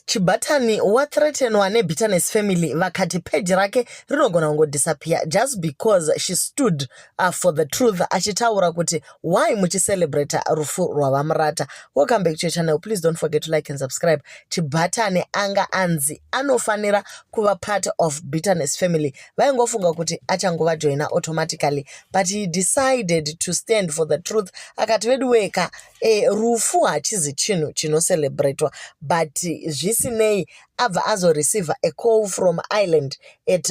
Chibatani wathreatenwa nebitterness family vakati page rake rinogona kungodisappear just because she stood uh, for the truth achitaura kuti why muchicelebrata rufu rwavamurata welcome back to your channel please don't forget to like and subscribe chibatani anga anzi anofanira kuva part of bitterness family vaingofunga kuti achangovajoina automatically but he decided to stand for the truth akati veduweka e, rufu hachizi chinhu chinocelebratwa but zvisinei abva azoreceiver a call from ireland at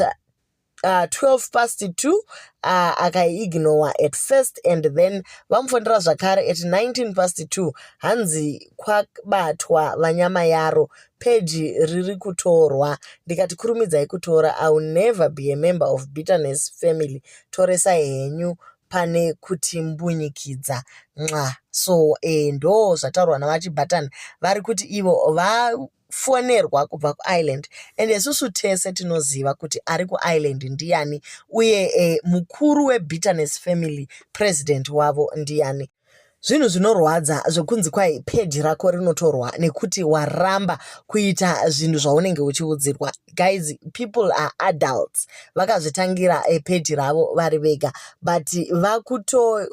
uh, 12 past 2 uh, akaiignowa at first and then vamufonera zvakare at 19 past 2 hanzi kwabatwa vanyama yaro peji riri kutorwa ndikati kurumidzai kutora iwill never be a member of bitterness family toresai henyu pane kuti mbunyikidza nxa so eh, ndo zvataurwa navachibhatani vari kuti ivo vafonerwa kubva kuireland and isusu tese tinoziva kuti ari kuireland ndiyani uye eh, mukuru webitterness family president wavo ndiyani zvinhu zvinorwadza zvekunzi kwai peji rako rinotorwa nekuti waramba kuita zvinhu zvaunenge uchiudzirwa guys people are adults vakazvitangira eh, peji ravo vari vega but vakuto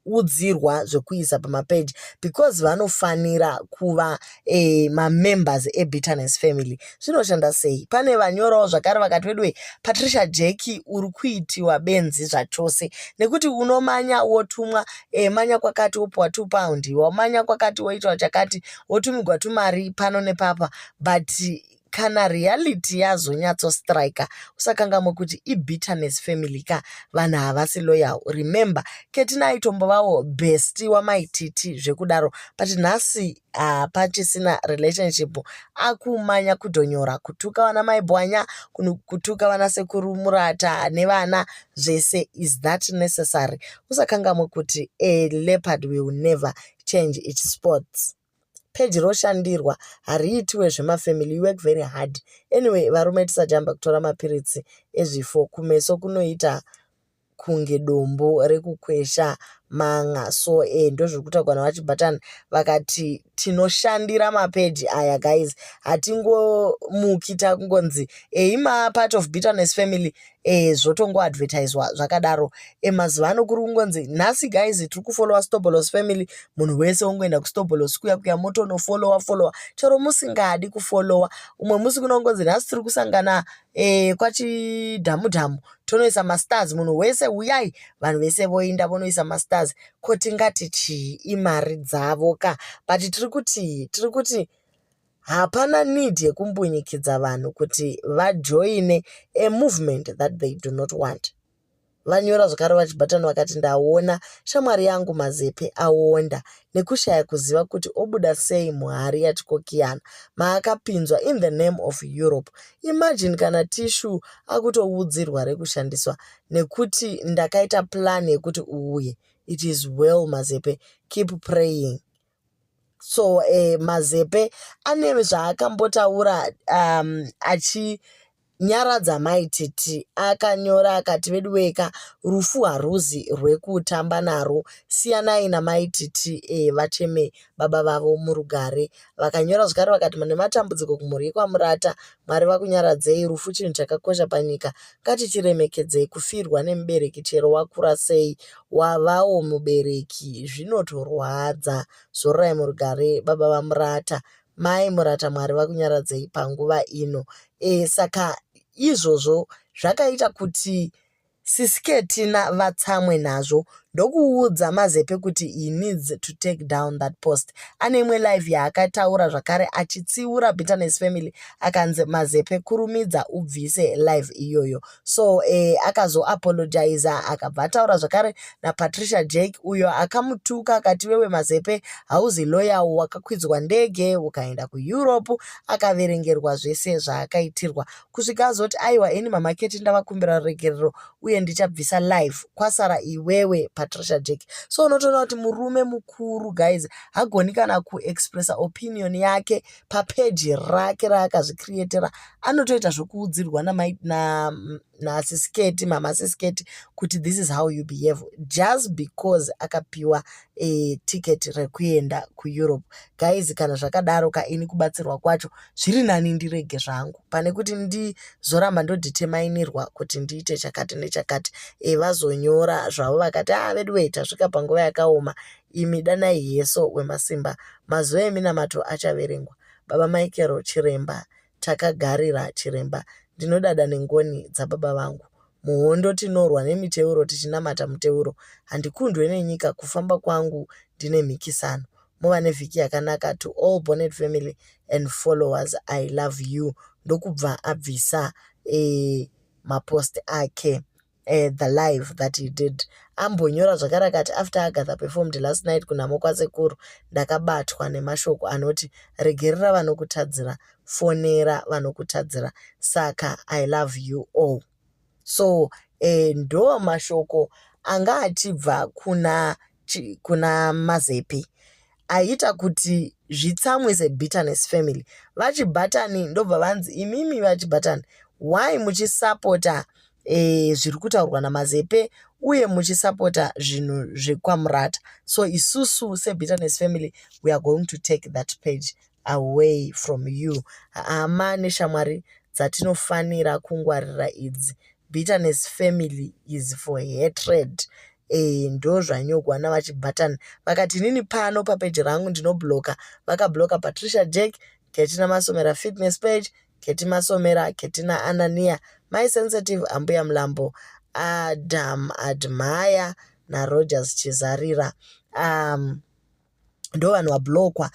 udzirwa zvekuisa pamapeji because vanofanira kuva eh, mamembers ebitterness family zvinoshanda sei pane vanyorawo zvakare vakati weduwe patricia jeki uri kuitiwa benzi zvachose nekuti unomanya wotumwa eh, manya kwakati wopiwa two pound wamanya kwakati woitwa chakati wotumigwa tumari pano nepapa but kana reality yazonyatsostriker usakangamwe kuti ibitterness family ka vanhu havasi loyal remember ketina aitombovawo besti wamaititi zvekudaro but nhasi uh, pachisina relationship akumanya kudhonyora kutuka vana mai bwanya kutuka vana sekuru murata nevana zvese is that necessary usakangamwe kuti a leopard will never change its sports peji roshandirwa hariitiwe zvemafamily you work very hard anyway varume tisajamba kutora mapiritsi ezvifo kumeso kunoita kunge dombo rekukwesha man'a so eh ndozvirikutaurwa naVaChi Button vakati tinoshandira mapeji aya guys hatingomuki tangonzi eyi ma part of bitterness family eh zvotongoadvertiswa zvakadaro eh mazuva ano kuri kungonzi nhasi guys tiri kufollowa stobolos family munhu wese wongoenda kustobolos kuya kuya motonofollowa followa chero musingadi kufollowa umwe musi kunongonzi nhasi tiri kusangana eh kwachidhamu dhamu tonoisa mastars munhu wese uyai vanhu vese voinda vonoisa mastars ko tingati chii imari dzavo ka but tiri kuti tiri kuti hapana need yekumbunyikidza vanhu kuti vajoine a movement that they do not want vanyora zvakare vachibhatani vakati ndaona shamwari yangu mazepe aonda nekushaya kuziva kuti obuda sei muhari yachikokiyana maakapinzwa in the name of Europe. Imagine kana tissue akutoudzirwa rekushandiswa nekuti ndakaita plan yekuti uuye. It is well Mazepe, keep praying so eh, mazepe ane zvaakambotaura um, achi Nyaradza mai Titi akanyora akati veduweka rufu haruzi rwekutamba narwo siyanai namai Titi eh, vacheme baba vavo murugare. Vakanyora zvakare vakati mune matambudziko kumhuri yekwaMurata, Mwari vakunyaradzei, rufu chinhu chakakosha panyika, ngatichiremekedzei kufirwa nemubereki chero wakura sei, wavawo mubereki zvinotorwadza. Zororai murugare baba vaMurata. Mai Murata Mwari vakunyaradzei panguva ino. E, saka izvozvo zvakaita kuti sisiketina vatsamwe nazvo ndokuudza mazepe kuti he needs to take down that post ane imwe live yaakataura zvakare achitsiura bitterness family akanzi mazepe kurumidza ubvise live iyoyo so eh, akazoapologiza akabva ataura zvakare napatricia jake uyo akamutuka akati wewe mazepe hauzi loyawo wakakwidzwa ndege ukaenda kueurope akaverengerwa zvese zvaakaitirwa kusvika azoti aiwa ini mamaketi ndavakumbira ruregerero uye ndichabvisa live kwasara iwewe patricia jake so unotoona kuti murume mukuru guys hagoni kana kuexpressa opinion yake papeji rake raakazvicreatera anotoita zvokuudzirwa naasisiketi mama asisiketi kuti this is how you behave just because akapiwa e, ticket rekuenda kueurope guys kana zvakadaro ka ini kubatsirwa kwacho zviri nani ndirege zvangu pane kuti ndizoramba ndoditemainirwa kuti ndiite chakati nechakati e, vazonyora zvavo vakati a ah, veduwei tasvika panguva yakaoma Imi danai Heso Wemasimba, mazuva eminamato achaverengwa. Baba Michael Chiremba, Takagarira Chiremba, ndinodada nengoni dzababa vangu. Muhondo tinorwa nemiteuro tichinamata muteuro. Handikundwe nenyika kufamba kwangu ndine mhikisano. Muva nevhiki yakanaka to all Bonnet family and followers I love you. Ndokubva abvisa eh, mapost ake. uh, the live that he did ambonyora zvakare akati after agatha performed last night kunhamo kwasekuru ndakabatwa nemashoko anoti regerera vanokutadzira fonera vanokutadzira saka i love you all so uh, ndo mashoko anga achibva kuna kuna mazepi aita kuti zvitsamwe sebitterness family vachibhatani ndobva vanzi imimi vachibhatani why muchisapota e, zviri kutaurwa namazepe uye muchisapota zvinhu zvekwamurata so isusu sebitterness family we are going to take that page away from you hama neshamwari dzatinofanira kungwarira idzi bitterness family is for hatred Ehe ndozvanyogwa navaChibatani vakati inini pano papeji rangu ndinobloka vakabloka Patricia Jack, Ketina Masomera Fitness Page, Keti Masomera, Ketina Anania, Mai Sensitive, Ambuya Mlambo, Adam Admire naRogers Chizarira. Um, ndovanhu vablokwa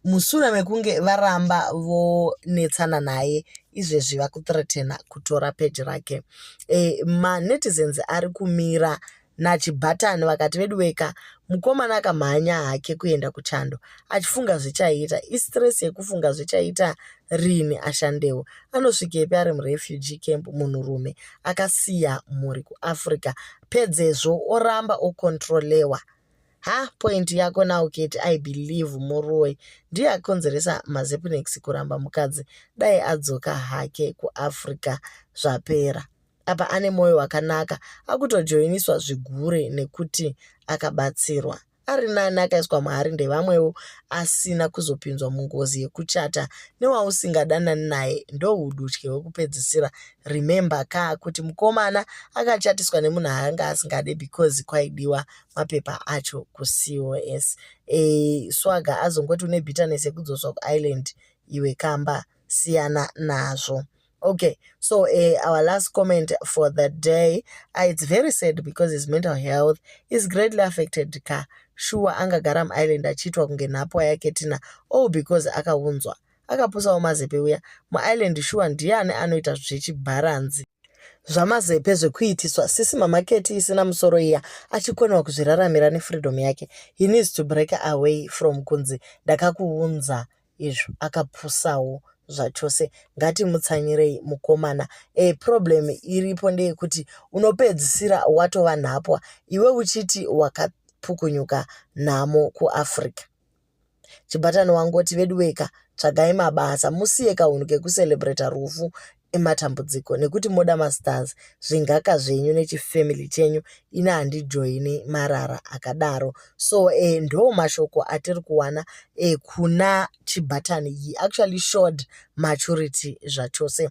mushure mekunge varamba vonetsana naye izvezvi vakuthreatena kutora peji rake e, eh, manetizens ari kumira nachibhatani vakati veduweka mukomana akamhanya hake kuenda kuchando achifunga zvichaita istress yekufunga zvichaita rini ashandewo anosvikepi ari murefugee camp munhurume akasiya mhuri kuafrica pedzezvo oramba okontrolewa ha point yako now keti i believe muroyi ndiye akonzeresa mazepnex kuramba mukadzi dai adzoka hake kuafrica zvapera apa ane mwoyo wakanaka akutojoiniswa zvigure nekuti akabatsirwa ari nani akaiswa mahari ndevamwewo asina kuzopinzwa mungozi yekuchata newausingadanani naye ndoudutye hwekupedzisira remember ka kuti mukomana akachatiswa nemunhu aanga asingade because kwaidiwa mapepa acho kucos e, eh, swaga azongoti une bitterness yekudzoswa kuireland iwe kamba siyana nazvo okay so uh, our last comment for the day uh, it's very sad because his mental health is greatly affected ka shuwa angagara muireland achiitwa kunge nhapwa yake tina all because akaunzwa akapusawo mazepe uya muIreland shuwa ndiani anoita zvechibharanzi zvamazepe zvekuitiswa sisi mamaketi isina musoro iya achikonewa kuzviraramira nefreedom yake he needs to break away from kunzi ndakakuunza izvo akapusawo zvachose ngatimutsanyirei mukomana e problem iripo ndeyekuti unopedzisira watova nhapwa iwe uchiti wakapukunyuka nhamo kuafrica Chibatani wangoti veduweka tsvagai mabasa musiye kahunhu kekucelebrata rufu ematambudziko nekuti moda mastars zvingaka zvenyu nechifamily chenyu ini handijoini marara akadaro so eh, ndo mashoko atiri kuwana eh, kuna chibatani he actually showed maturity zvachose